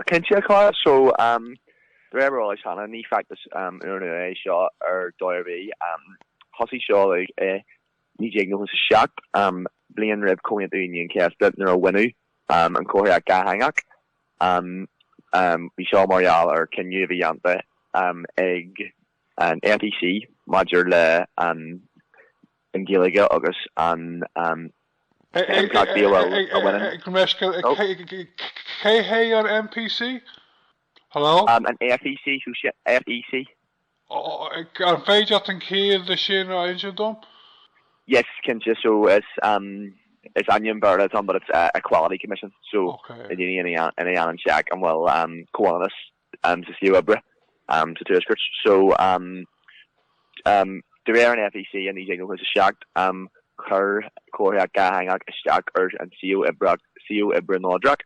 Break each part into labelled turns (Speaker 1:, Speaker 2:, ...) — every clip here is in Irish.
Speaker 1: Cinnte, a Chuain. So, de réir mar is eol cheana, ní feachtas úrnua é seo ar dóigh ar bith. Thosaigh seo i 1997, bliain roimh Chomhaontú Aoine an Chéasta, nuair a baineadh an chomharthaíocht dhátheangach. Bhí seo mar gheall ar chinneadh a bhí déanta ag an FEC maidir le an. Ghaeilge agus na himpleachtaí a bhfuil a bhaineann. Ag
Speaker 2: mheisceal i Cé hé an NPC? Hello? An FEC,
Speaker 1: hea? FEC?
Speaker 2: An féidir leat an chiall de sin a inseacht dom?
Speaker 1: Yes, cinnte, so it's um is ainm Béarla atá ann but it's Equality Commission so
Speaker 2: déanann
Speaker 1: siad check an bhfuil comhionannas um sa suíomh oibre um sa Tuaiscirt so um um de réir an FEC i 1997 um chuir comharthaíocht dhátheangach isteach ar an suíomh oibre suíomh oibre neodrach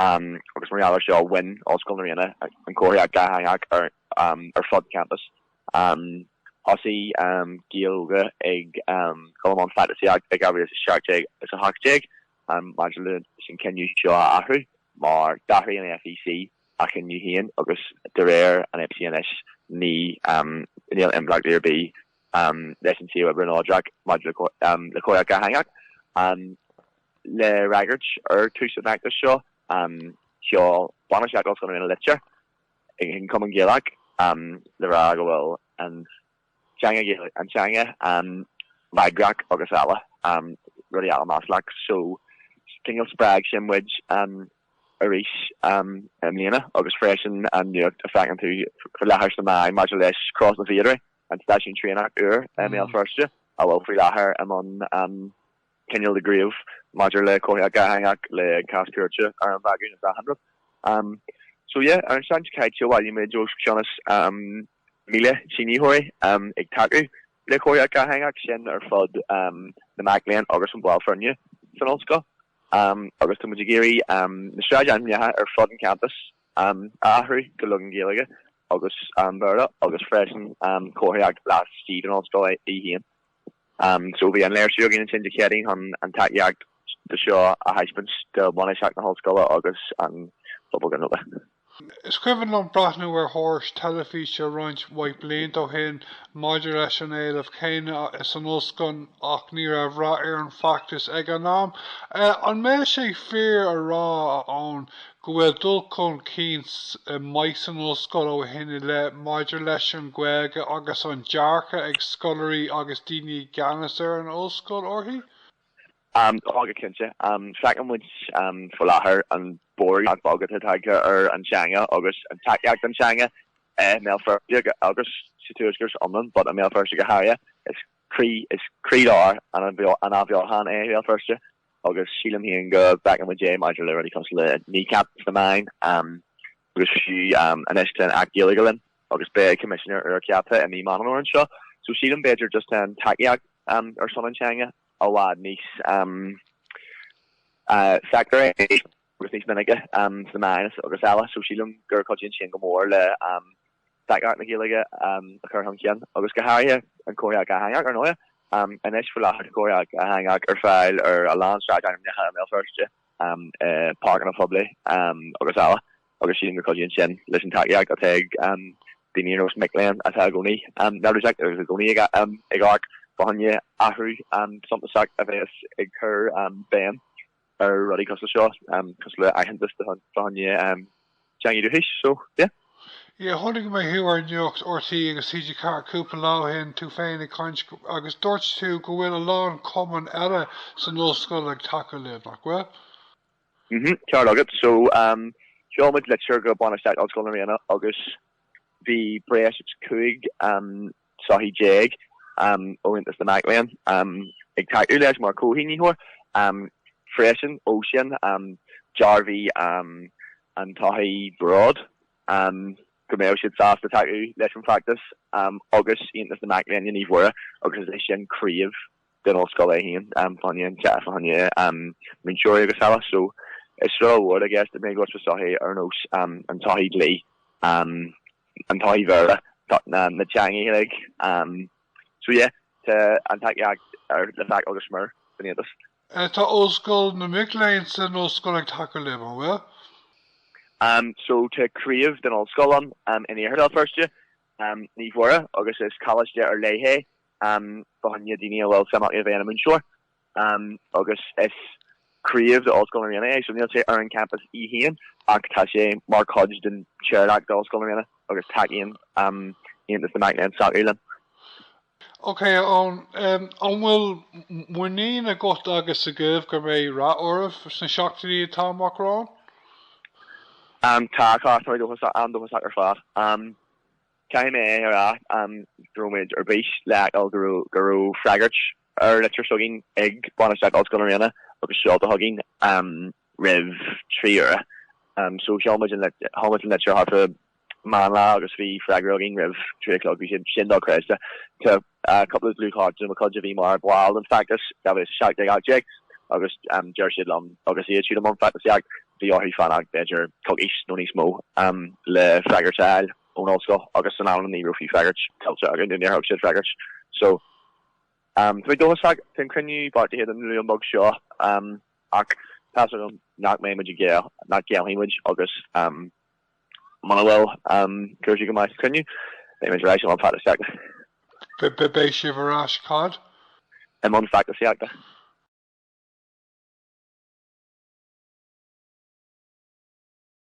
Speaker 1: um agus mar gheall ar seo bhain Ollscoil na Ríona an comharthaíocht dhátheangach um ar fud campus um thosaigh um Gaeil óga ag dul i mbun feachtasaíochta i 2017 is 18 um maidir leis an cinneadh seo a athrú mar d'athraigh an FEC a gcinneadh féin agus de réir an FEC anois ní níl impleacht ar bith leis an suíomh oibre neodrach maidir le comharthaíocht dhátheangach. Le fhreagairt ar thús an fheachtais seo sheol bainistíocht Ollscoil na Ríona litir chuig an Cumann Gaelach le rá go bhfuil an teanga Ghaeilge ina teanga bhagrach agus eile, rudaí eile maslach. So, cineál spreag sin muid arís i mbliana agus freisin an nuacht a feiceann tú faoi láthair sna meáin maidir le Crois na bhFíodóirí, an stáisiún traenach úr i mBéal Feirste a bhfuil faoi láthair i mbun cineál de ghníomh maidir le comharthaíocht dhátheangach le cás cúirte á bhagairt ina n-aghaidh. So, yeah, ar an tseachtain seo caite bhailigh muid os cionn. 1,000 sínitheoirí ag tacú le comharthaíocht dhátheangach sin ar fud na mac léinn agus an baill foirne san ollscoil agus tá muid ag iarraidh na sráidainmneacha ar fud an campus a athrú go leagan Gaeilge agus Béarla agus freisin comharthaíocht laistigh den ollscoil í féin. So bhí an léirsiú againn ansin Dé Céadaoin chun an tacaíocht do seo a thaispeáint do bhainistíocht na hollscoile agus an pobal Gall go léir. Is cuimhin liom
Speaker 2: breathnú ar thuairisc teilifíse roinnt mhaith blianta ó shin maidir leis an éileamh céanna san ollscoil ach ní raibh rath ar an bhfeachtas ag an am. An mbeadh sé fíor a rá, a Eoghain, go bhfuil dul chun cinn maith san ollscoil ó shin i leith maidir leis an Ghaeilge agus an dearcadh ag scoláirí agus daoine i gceannas ar an ollscoil uirthi?
Speaker 1: Tá go cinnte. Feiceann muid faoi láthair an borradh nach beag atá tagtha ar an teanga agus an tacaíocht don teanga i mBéal Feirste agus sa tuaisceart san iomlán but i mBéal Feirste go háirithe. Is croílár an athbheochan é Béal Feirste. agus sílim féin go bhfeiceann muid é maidir le rudaí cosúil le Kneecap sna meáin agus fiú anois tá an tAcht Gaeilge linn agus beidh Coimisinéir úr ceaptha i mí Meán Fhómhair anseo so sílim b'fhéidir just an tacaíocht ar son an teanga i bhfad níos feictear é agus níos minice sna meáin agus eile so sílim go gcuidíonn sin go mór le tacaíocht na Gaeilge a chur chun cinn agus go háirithe an chomharthaíocht dhátheangach, ar ndóigh. Anois faoi láthair tá comharthaíocht dhátheangach ar fáil ar a lán sráideanna i mBéal Feirste, i páirceanna poiblí agus eile agus sílim go gcuidíonn sin leis an tacaíocht atá ag daoine ar nós mic léinn atá i gcónaí neirbhíseach agus i gcónaí ag amharc fá choinne athrú suntasach a bheas ag cur béim ar rudaí cosúil seo cosúil le aitheantas fá choinne teangaí dúchais so yeah. Yeah, chonaic
Speaker 2: mé thú ar nuacht RTÉ agus TG4 cúpla lá ó shin, tú féin ag caint agus dúirt tú go bhfuil a lán cumann eile san ollscoil ag tacú libh, nach bhfuil?
Speaker 1: Mhm, ceart agat. So, um, sheol muid litir go bainistíocht Ollscoil na Ríona agus bhí breis is cúig um, sochaí déag ó Aontas na Mac Léinn ag tacú leis mar chomhshínitheoir freisin. Ó sin, dearbhaigh an tsochaí Bród go mbeadh siad sásta tacú leis an bhfeachtas agus Aontas na Mac Léinn i Naomh Mhuire agus is é sin craobh den Ollscoil é féin, fá choinne, a chara, fá choinne múinteoirí agus eile. So is rud ollmhór I guess that mé go sa sochaí ar nós an tsochaí dlí, an tsochaí Bhéarla, na teangaí uilig. So yeah tá an tacaíocht ar le feiceáil go smior san
Speaker 2: Aontas. Tá Ollscoil na mic léinn
Speaker 1: san
Speaker 2: Ollscoil ag tacú libh, an
Speaker 1: bhfuil? So tá craobh den Ollscoil ann in iarthar Bhéal Feirste, Naomh Mhuire agus is coláiste ar leith é. um fá choinne daoine a bhfuil suim acu i bheith ina múinteoir um agus is craobh de Ollscoil na Ríona é so níl sé ar an champas í féin ach tá sé mar chuid den chomhlacht de Ollscoil na Ríona agus tacaíonn um Aontas na Mac Léinn s'acu
Speaker 2: linn. Ok Eoin, um an bhfuil muinín agat agus agaibh go mbeidh rath oraibh sna seachtainí atá amach romhainn? Um tá
Speaker 1: a chara, táimid dóchasach, an-dóchasach ar fad. Um. Caithfidh mé a rá go raibh muid ar bís le feiceáil go raibh freagairt ar an litir s'againn ag bainistíocht Ollscoil na Ríona agus seolta chugainn roimh trí huaire. So sheol muid an litir thart fá meán lae agus bhí freagra againn roimh trí a chlog. Bhí sé sin do-chreidte. Tá cúpla dlúthchairde de mo chuid a bhí mar bhaill den feachtas sa bhliain 17 18 agus deir siad liom agus iad siúd i mbun feachtasaíochta bhí orthu fanacht b'fhéidir coicís nó níos mó le freagairt a fháil. ón ollscoil agus an t-am sin ní raibh fiú freagairt tuillte againn nó níor thug siad freagairt so um tá mé dóchasach tá an cruinniú beartaithe don Luan beag seo um ach tá's agam nach mbeidh muid ag géilleadh nach ngéillfidh muid agus um muna bhfuil um cúrsaí go maith sa cruinniú beidh muid ar ais i mbun feachtasaíochta. Beidh sibh
Speaker 2: ar
Speaker 1: ais cad? I mbun feachtasaíochta.